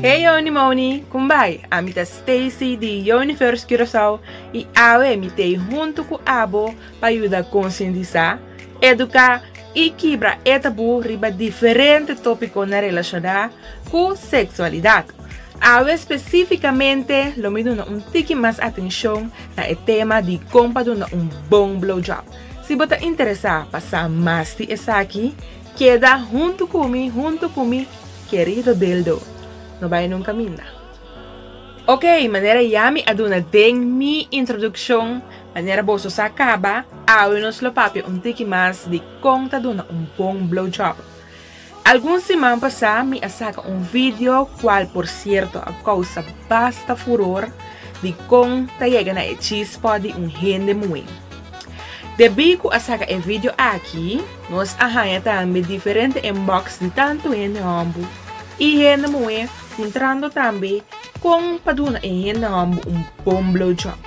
Hey Yoni Moni, kum bai? Ami ta Stacy di Yoniverse Curaçao i awe mi ta ei huntu ku abo pa yuda konsientisá, eduká i kibra e tabú riba diferente tópiko na relashoná ku seksualidat. Awe spesífikamente lo mi duna un tiki mas atenshon na e tema di kon pa duna un bon blowjob. Si bo ta interesá pa sa mas di esaki, keda huntu ku mi, huntu ku mi kerido dildo. No bai nun kaminda. Ok, manera ya mi a duna den mi introdukshon, manera boso sa kaba, awe nos lo papia un tiki mas di kon ta duna un bon blowjob. Algun siman pasá mi a saka un video kual por sierto a kousa basta furor di kon ta yega na e chispó di un hende muhé. Debí ku a saka e video aki, nos a haña tambe diferente inbox di tantu hende hòmber i hende muhé. Sintrando tambe kon pa duna e hende hòmber un bon blowjob.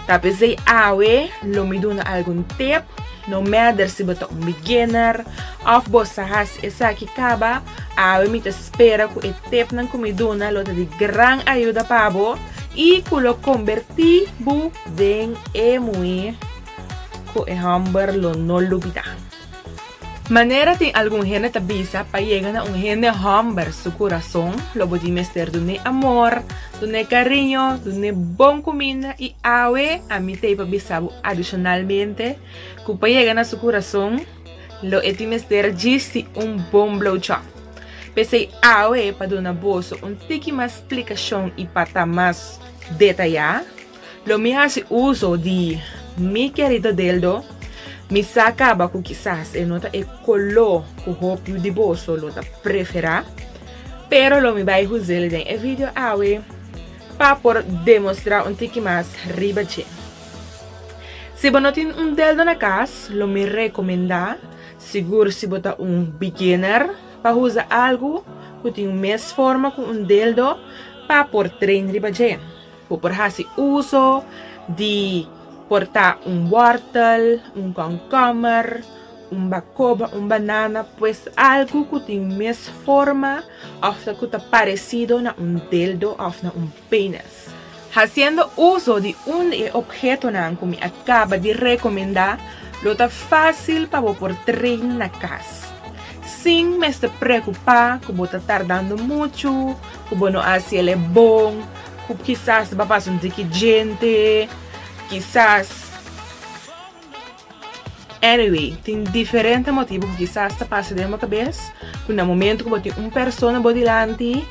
Ta p'esei awe lo mi duna algun tip, no mèder si bo ta un beginner òf bo sa hasi esaki kaba, awe mi ta spera ku e tipnan ku mi duna lo ta di gran ayuda pa bo i ku lo kombertí bo den e muhé ku e hòmber lo no lubidá. Manera tin algun hende ta bisa, pa yega na un hende hòmber su kurason, lo bo tin mester dun'é amor, dun'é kariño, dun'é bon kuminda i awe ami ta ei pa bisa bo adishonalmente ku pa yega na su kurason lo e tin mester djisti un bon blowjob. P'esei awe pa duna boso un tiki mas splikashon i pa ta mas detayá, Lo mi hasi uso di mi kerida deldo, mi sa kaba ku kisas e no ta e koló ku hopiu di boso lo ta preferá, pero lo mi bai huz'el den e video awe pa por demostrá un tiki mas riba dje. Si bo no tin un deldo na kas, lo mi rekomendá, sigur si bo ta un beginner, pa usa algu ku tin un mes forma ku un deldo pa por train riba dje. Bo por hasi uso di por ta un wòrtel, un kònkòmer, un bakoba, un banana, pues algu ku tin un mes forma òf ta ku ta paresido na un deldo òf na un penis. Hasiendo uso di un di e obhetonan ku mi a kaba di rekomendá, lo ta fásil pa bo por train na kas, sin mester preokupá ku bo ta tardando muchu, Ku bo no asi el e bon, ku kisas bo a pasa un tiki djente, kisas. Anyway, tin diferente motibu ku kisas ta pasa den bo kabes, ku na momentu ku bo tin un persona bo dilanti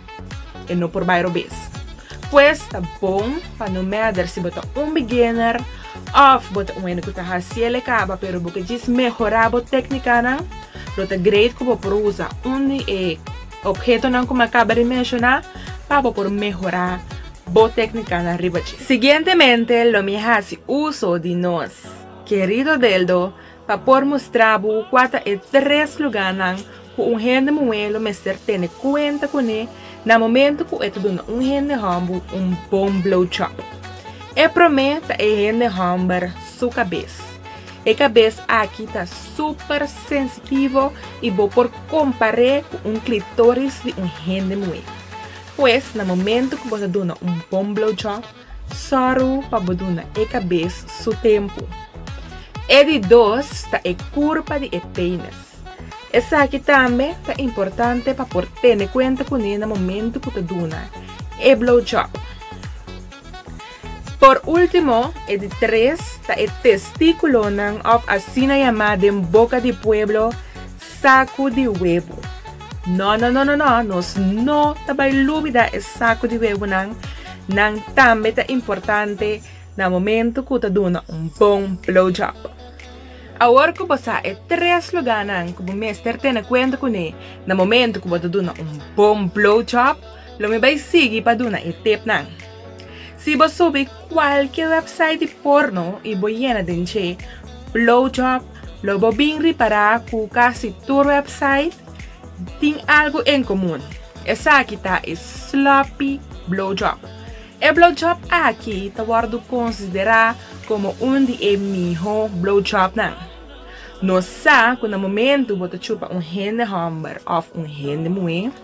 e no por bai robes. Pues ta bon pa no mèder si bo ta un beginner òf bo ta un hende ku ta hasi el e kaba pero bo ke djis mehorá bo teknikanan, lo ta great ku bo por usa un di e. Obhetonan ku mi a kaba di menshoná pa bo por mehorá bo téknikanan riba dje. Siguientemente lo mi hasi uso di nos kerido deldo pa por mustra bo kua ta e tres lugánan ku un hende muhé lo mester tene kuenta kuné na momentu ku e ta duna un hende hòmber un bon blowjob. E promé ta e hende hòmber su kabes. E kabes aki ta. Super sensitivo y bo por compar'e cu un clitoris di un hende muhé. Pues na momento cu bo ta duna un bon blowjob, sorru pa bo duna e cabes su tempo. E di dos ta e curpa di e penis. Esaki tambe ta importante pa por tene cuenta cune na momento cu ta duna e blowjob. Por último, e di tres, ta e Testikulonan òf asina yamá den boka di pueblo, saku di webu. Nò nò nò nò nò, nos no ta bai lubida e saku di webunan, nan tambe ta importante na momentu ku ta duna un bon blowjob. Awor ku bo sa e tres lugánan ku bo mester tene kuenta kuné na momentu ku bo ta duna un bon blowjob, lo mi bai sigui pa duna e tipnan. Si bo subi kualke wèpsait di porno i bo yena den dje, blowjob, lo bo bin ripará ku kasi tur wèpsait tin algu en komun. Esaki ta e sloppy blowjob. E blowjob aki ta wòrdu konsiderá komo un di e mihó blowjobnan. Nos sa ku na momentu bo ta chupa un hende hòmber òf un hende muhé,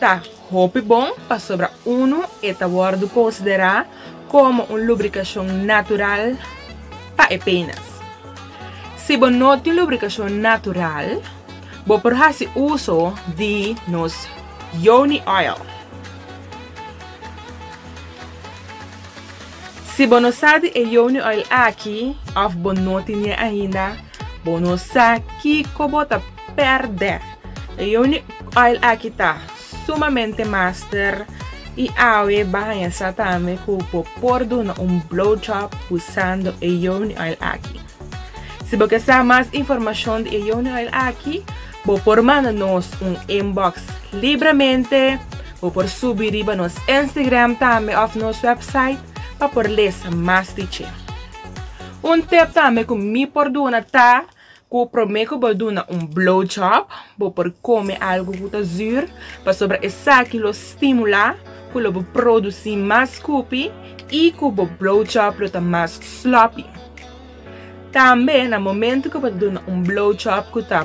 Ta hopi bon pasobra unu e ta wòrdu konsiderá komo un lubrikashon natural pa e penas. Si bo no tin lubrikashon natural, bo por hasi uso di nos Yoni Oil. Si bo no sa di e Yoni Oil aki òf bo no tin e ainda, Bo no sa kiko bo ta pèrdè. E Yoni oil aki ta sumamente master i awe bo a haña sa tambe ku bo por duna un blow job usando e Yoni oil aki. Si bo ke sa mas informashon di e Yoni oil aki bo por manda nos un inbox libremente, bo por subi riba nos Instagram tambe òf nos wèpsait pa por lesa mas di dje. Un tip tambe ku mi por duna ta ku promé ku bo duna un blow job bo por kome algu ku ta zur pasobra esaki lo stimula ku lo bo produsi mas kupi i ku bo blow job lo ta mas sloppy. Tambe na momentu ku bo ta duna un blow job ku ta.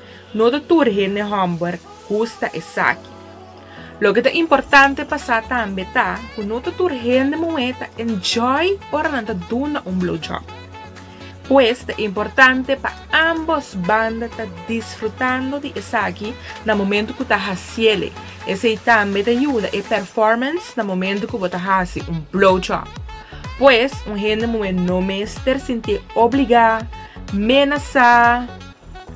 No ta tur hende hòmber gusta esaki. Loke ta importante pa sa tambe ta ku no ta tur hende muhé ta enjoy ora nan ta duna un blowjob. Pues ta importante pa ámbos banda ta disfrutando di esaki na momentu ku ta hasiéle. Esei tambe ta yuda e performance na momentu ku bo ta hasi un blowjob. Pues un hende muhé no mester sintí obligá, menasá.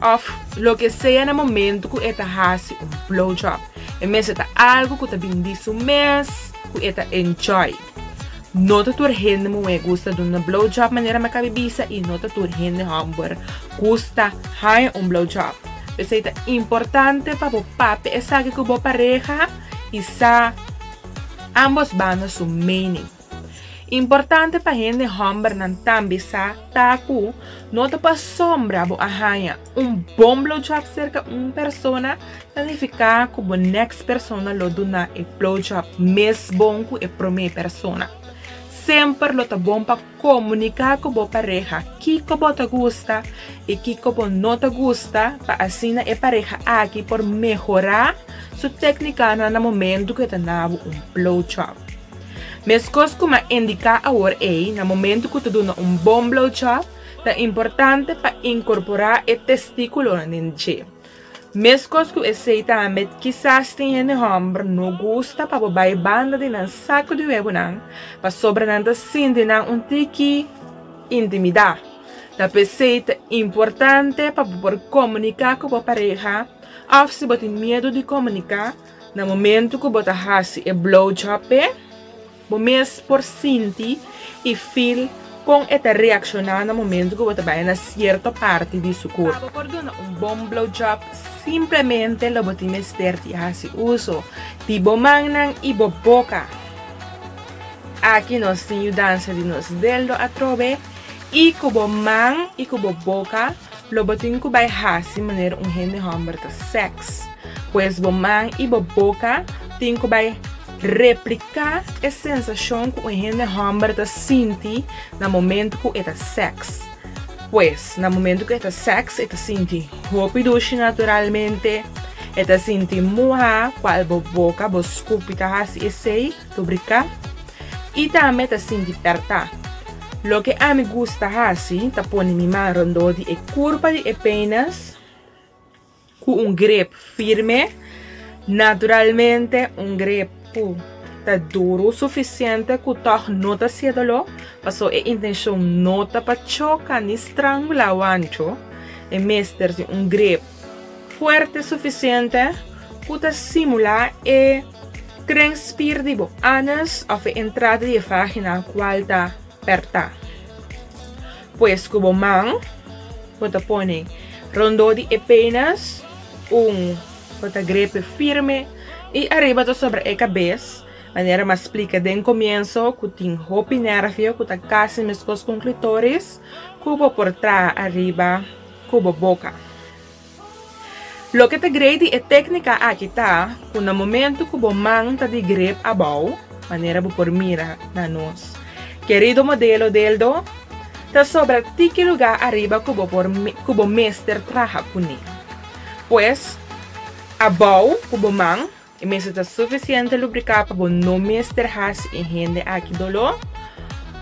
òf loke sea na momentu ku e ta hasi un blowjob. E mester ta algu ku ta bin di su mes ku e ta enjoy. No ta tur hende muhé gusta duna blowjob manera mi a kabe bisa i no ta tur hende hòmber gusta haña un blowjob. P'esei ta importante pa bo papia esaki ku bo pareha i sa ambos banda su mening. Importante pa hende hòmbernan tambe sa ta ku no ta pasobra bo a haña un bon blowjob serka un persona ta nifiká ku bo nèks persona lo duna e blowjob mes bon ku e promé persona. Semper lo ta bon pa komuniká ku bo pareha kiko bo ta gusta i kiko bo no ta gusta pa asina e pareha aki por mehorá su tèknikanan na momentu ku e ta duna bo un blowjob. Meskos kuma a indiká awor ei na momentu ku ta duna un bon blowjob, ta importante pa inkorporá e testíkulonan den dje. Meskos ku esei tambe kisas tin hende hòmber no gusta pa bo bai banda di nan saku di webonan pasobra nan ta sinti nan un tiki intimidá. Ta p'esei ta importante pa bo por komuniká ku bo pareha òf si bo tin miedu di komuniká. Na momento cu bo ta haci e blowjob pe, bo mes por sinti y feel con e ta reacciona na momento cu bo ta bay na cierto parti di su cuerpo. Pa bo por duna un bon blowjob, simplemente lo bo tin mester di haci uso di bo mannan y bo boca. Aki nos tin yudansa di nos deldo atrobe y cu bo man y cu bo boca Lo bo tin ku bai hasi manera un hende hòmber ta sèks. Pues bo man i bo boka tin ku bai repliká e sensashon ku un hende hòmber ta sinti na momentu ku e ta sèks. Pues, na momentu ku e ta sèks e ta sinti hopi dushi naturalmente, e ta sinti muhá, kual bo boka, bo skupi ta hasi esei. Rubricá i tambe ta sinti pertá. Loke ami gusta hasi ta pone mi man rondó di e kurpa di e peinas ku un grep firme, naturalmente un grep ku ta duru sufisiente ku tòg no ta hasié doló, pasó e intenshon no ta pa choka ni strangulá wancho. E mester di un grep Fuerte sufisiente ku ta simulá e tren spier di bo anus òf e entrada di e vágina kual ta pertá. Pues ku bo man bo ta pone rondó di e pénas un bo ta grepe firme i ariba ta sobra e kabes, manera mas splika den komienso ku tin hopi nérvio ku ta kasi meskos ku un klitoris ku bo por traha ariba. ku bo boka. Loke ta grei di e teknika aki ta ku na momentu ku bo man ta di grep abou, manera bo por mira na nos kerido modelo deldo, ta sobra tiki lugá ariba ku bo por ku bo mester traha kuné. Pues, abou ku bo man. E mester ta sufisiente lubricá pa bo no mester hasi e hende aki doló.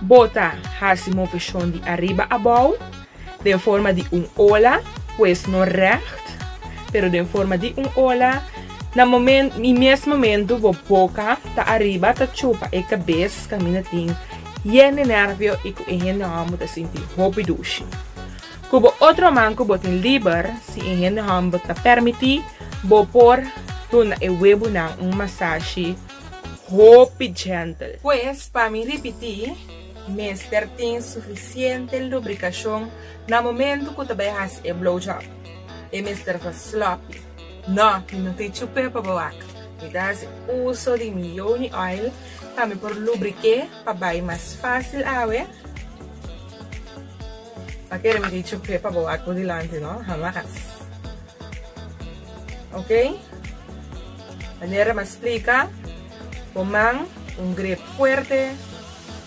Bo ta hasi moveshon di ariba abou den forma di un ola, pues no règt, pero den forma di un ola. Na momen i mes momentu bo boka ta ariba ta chupa e kabes kaminda tin yende nervio i ku e hende hòmber ta sinti hopi dushi. Ku bo otro man ku bo tin liber, si e hende hòmber ta pèrmití, bo por duna e webunan un masashi hopi djèntel. Pues, pa mi ripití, mester tin sufisiente lubrikashon na momentu ku ta bai hasi e blowjob. E mester ta sloppy. Nò, mi no ta e chup'é pa bo wak. Mi ta hasi uso di mi yoni oil pa mi por lubrik'é pa bai mas fásil awe. Pa kere mi dicho ke pa bo aku dilanti no hamas ok manera mi a splika bo man un grep fuerte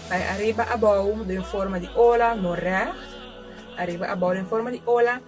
bai ariba abou den forma di ola no recht ariba abou den forma di ola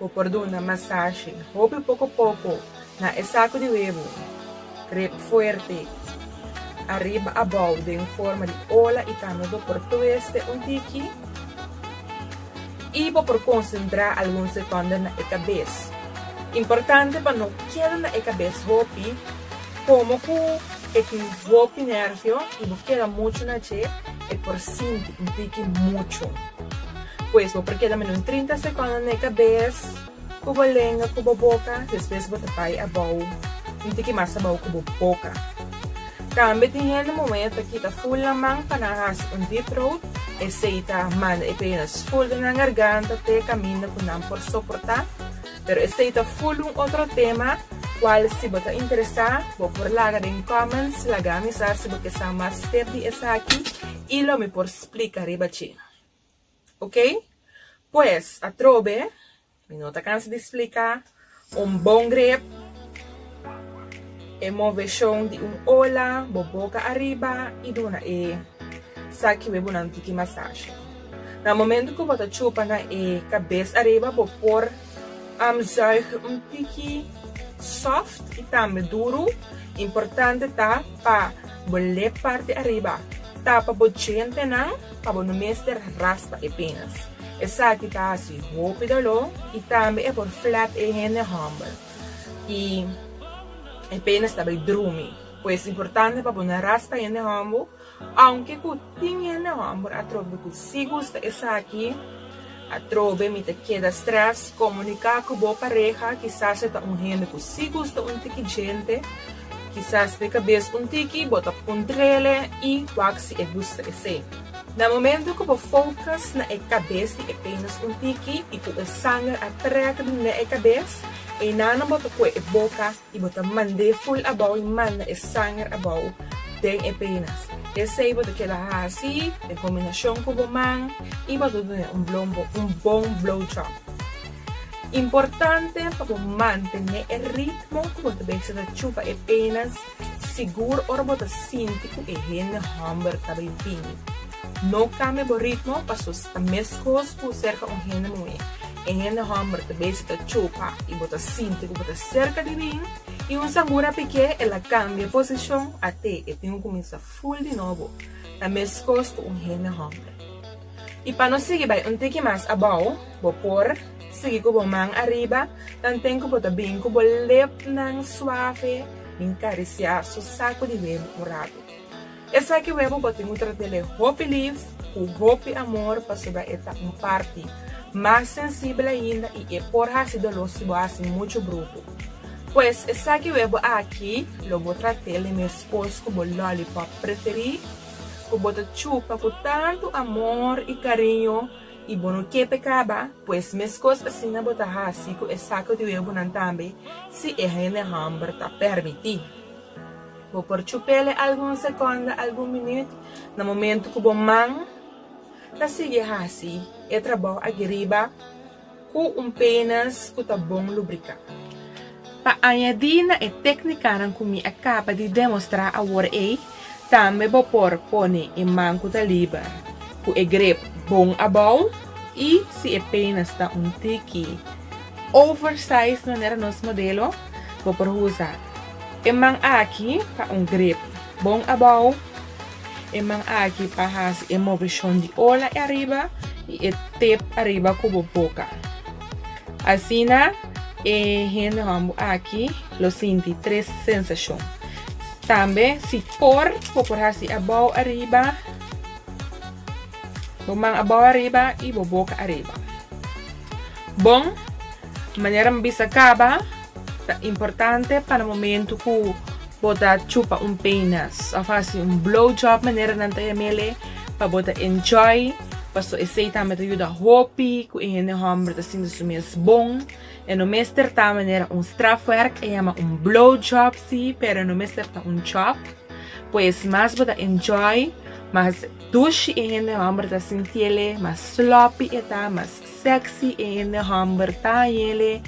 Bo por duna masashi hopi poko poko na e saku di webo. Grip fuerte ariba abou den forma di ola i tambe bo por tueste un tiki. I bo por konsentrá algun sekonda na e kabes. Importante pa no keda na e kabes hopi Komo ku e ki bo tin nèrvio i bo keda muchu na dje, e por sinti un tiki muchu. Pues bo por keda mino trinta sekonda na e kabes ku bo lenga ku bo boka, despues bo ta bai abou un tiki mas abou ku bo boka. Tambe tin hende momen e ta kita ful nan man pa nan hasi un deep throat, esei ta manda e penas ful den nan garganta te kaminda ku nan por soportá. Pero esei ta full un otro tema cual si bo ta interesa bo por laga den comments lagami sa si bo ke sa mas step di esaki y lo mi por splica riba dje. Ok? Pues atrobe mi no ta cansa di splica un bon grep e movecion di un ola bo boca ariba y duna e sa kiwe bonan tiki massage. Na momento cu bo ta chupa na e cabes ariba bo por zuig un tiki soft y tambe duru. Importante ta pa bo lep parti ariba tapa bo dientenan pa bo no mester raspa e penas. Esaki ta haci hopi dolor y tambe e por flap e hende humble y e penas ta bay drumi. Pues importante pa bo no raspa hende humble. Aunke cu tin hende homber atrobe cu si gusta esaki, atrobe mi ta keda stress, comunica cu bo pareha, kisas e ta un hende cu si gusta un tiki djente, kisas de cabes un tiki bo ta puntrele y wak si e gusta esey. Na momento cu bo focus na e cabes di e penas un tiki y cu e sanger a trek dun den e cabes, eyna'nan bo ta coe e boca I bo ta mand'é ful abou i manda e sanger abou den e penas. Esei bo ta keda hasi den kombinashon ku bo man i bo ta duna un blombo un bon blowjob. Importante pa bo mantené e ritmo ku bo ta bisa ta chupa e penas sigur ora bo ta sinti ku e hende hòmber ta bai bini. No kambia bo ritmo pasobra ta meskos ku serka un hende muhé. E hende hòmber ta besi ta chupa i bo ta sinti ku bo ta serka di bin, i un sambura pek'é el a kambia posishon at'é e tin ku kuminsá ful di nobo, ta meskos ku un hende hòmber. I pa no sigui bai un tiki mas abou, bo por sigui ku bo man ariba tanten ku bo ta bin ku bo lepnan suave bin karisiá su saku di hue un ratu. Esaki webo bo tin cu tratele hopi lif, cu hopi amor pasobra e ta un parti mas sensibel ainda y e por haci dolo si bo haci mucho bruhu. Pues esaki webo aki lo bo tratele mescos cu bo lollipop preferi cu bo ta chupa cu tanto amor y cariño y bo no kepe caba, pues mescos asina bo ta haci cu e saco di webonan tambe si e hende humber ta permiti. Bo por chupele algun sekonda, algun minüt, na momentu ku bo man ta sigui hasi e trabou aki riba ku un penas ku ta bon lubriká. Pa añadí na e téknikanan ku mi a kaba di demostrá awor ei, tambe bo por pone e man ku ta liber ku e grep bon abou i si e penas ta un tiki oversized manera nos modelo, bo por usa. E man aki pa un grip bon abou. E man aki pa hasi e moveshon di ola e ariba i e tep ariba ku bo boka. Asina e hendenan bo aki lo sinti tres sensashon. Tambe si por bo por hasi abou ariba, bo man abou ariba i bo boka ariba. Bon, manera mi bisa kaba. Ta importante pa na momentu ku bo ta chupa un penas òf hasi un blow job manera nan ta yam'ele pa bo ta enjoy paso esei tambe ta yuda hopi ku e hende hòmber ta sinti su mes bon e no mester ta manera un strafwerk e yama un blow job si pero e no mester ta un job pues mas bo ta enjoy mas dushi e hende hòmber ta sintiele mas sloppy e ta mas sexy e hende hòmber ta yele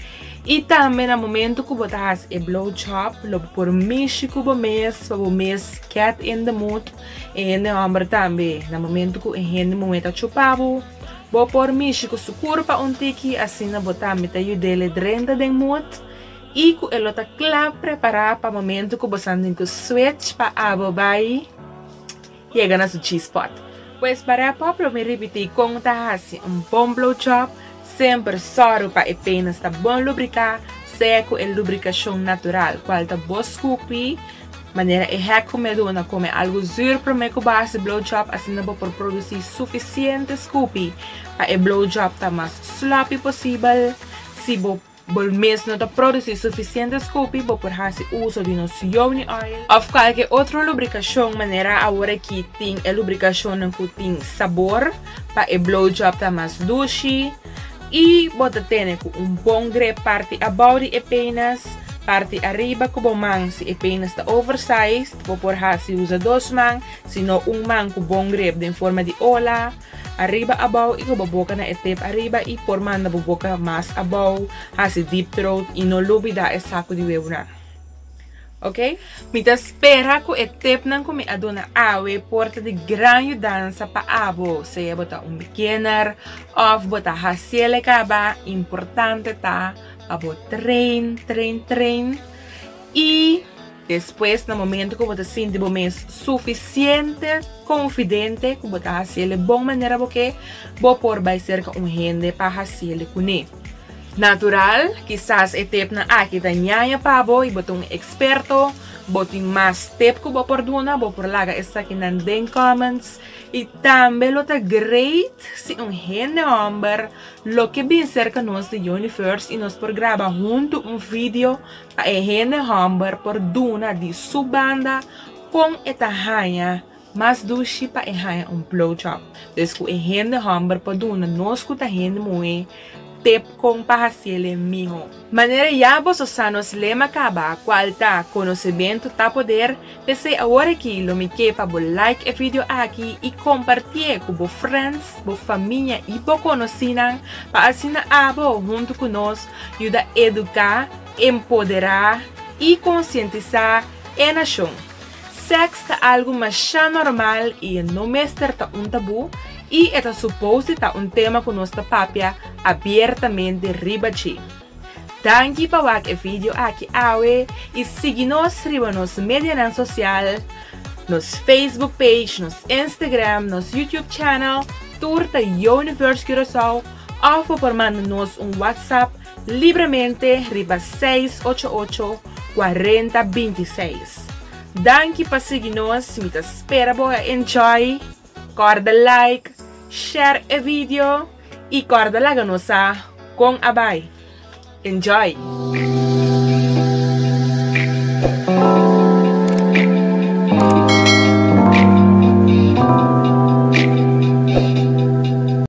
i tambe na momento ku bo ta hasi e blow job lo por mishi ku bo mes pa bo mes gèt in de mood e hende hòmber tambe na momento ku e hende muhé ta chupa bo bo por mishi ku su kurpa un tiki asina bo tambe ta yudele drenta den mood i ku e lo ta kla prepará pa momento ku bo san den ku switch pa abo bai. yega na su G-spot. Pues pa rap up lo mi ripiti con ta haci un bon blow job, semper sorgo pa e penas ta bon lubrica sea cu e lubricacion natural cual ta bo scupi, manera e hack cu mi a duna na come algo zuur prome cu bo haci blow job asina bo por produci suficiente scupi pa e blow job ta mas sloppy posibel, si bo Bo mes no ta produsí sufisiente skupi bo por hasi uso di nos Yowni Oil òf kalke otro lubrikashon manera aworakí tin e lubrikashonnan ku tin sabor pa e blowjob ta mas dushi i bo ta tene ku un bon grep parti abou di e penas, parti ariba ku bo man si e penas ta oversized bo por hasi usa dos man si no un man ku bon grep den forma di ola. Ariba abou y cu bo boca na e tep ariba y por manda bo boca mas abou, haci deep throat y no lubida e sacu di webunan. Ok. Mi ta spera cu e tepnan cu mi a duna awe por ta di gran yudansa pa abo, sea bo ta un beginner of bo ta haciel e caba, importante ta pa bo train, train, train y. Despues na momento ku bo ta sinti bo mes sufisiente konfidente ku bo ta hasi el di bon manera bo ke, bo por bai serka un hende pa hasi el di kuné. Natural, kisas e tepnan aki ta ñaña pa bo i bo ta un eksperto, bo tin mas tep ku bo por duna, bo por laga esakinan den comments. I tambe lo ta great si un hende hòmber lo ke bin serka nos di Universe i nos por graba huntu un video Pa e hende hòmber por duna di su banda kon e ta haña mas dushi pa e haña un blowjob. Des ku e hende hòmber por duna nos ku ta hende muhé tep kon pa hasiele mihó. Manera ya boso sa nos lema kaba, kual ta, Konosementu ta poder. P'esei awor aki lo mi ke pa bo like e video aki i kompartié ku bo friends, bo famia i bo konosinan pa asina abo huntu ku nos yuda eduká, empoderá i konsientisá e nashon. Sèks ta algu masha normal i e no mester ta un tabú i e ta supos di ta un tema ku nos ta papia abiertamente riba dje. Danki pa wak e video aki awe i sigui nos riba nos medianan sosial, nos Facebook page, nos Instagram, nos YouTube channel, tur ta Universe Curaçao, of bo por manda nos un WhatsApp libremente riba seis ocho ocho, cuarenta binti seis. Danki pa sigui nos, mi ta spera bo a enjoy! Corda like, share e video y corda laga nos sa con a bay. Enjoy!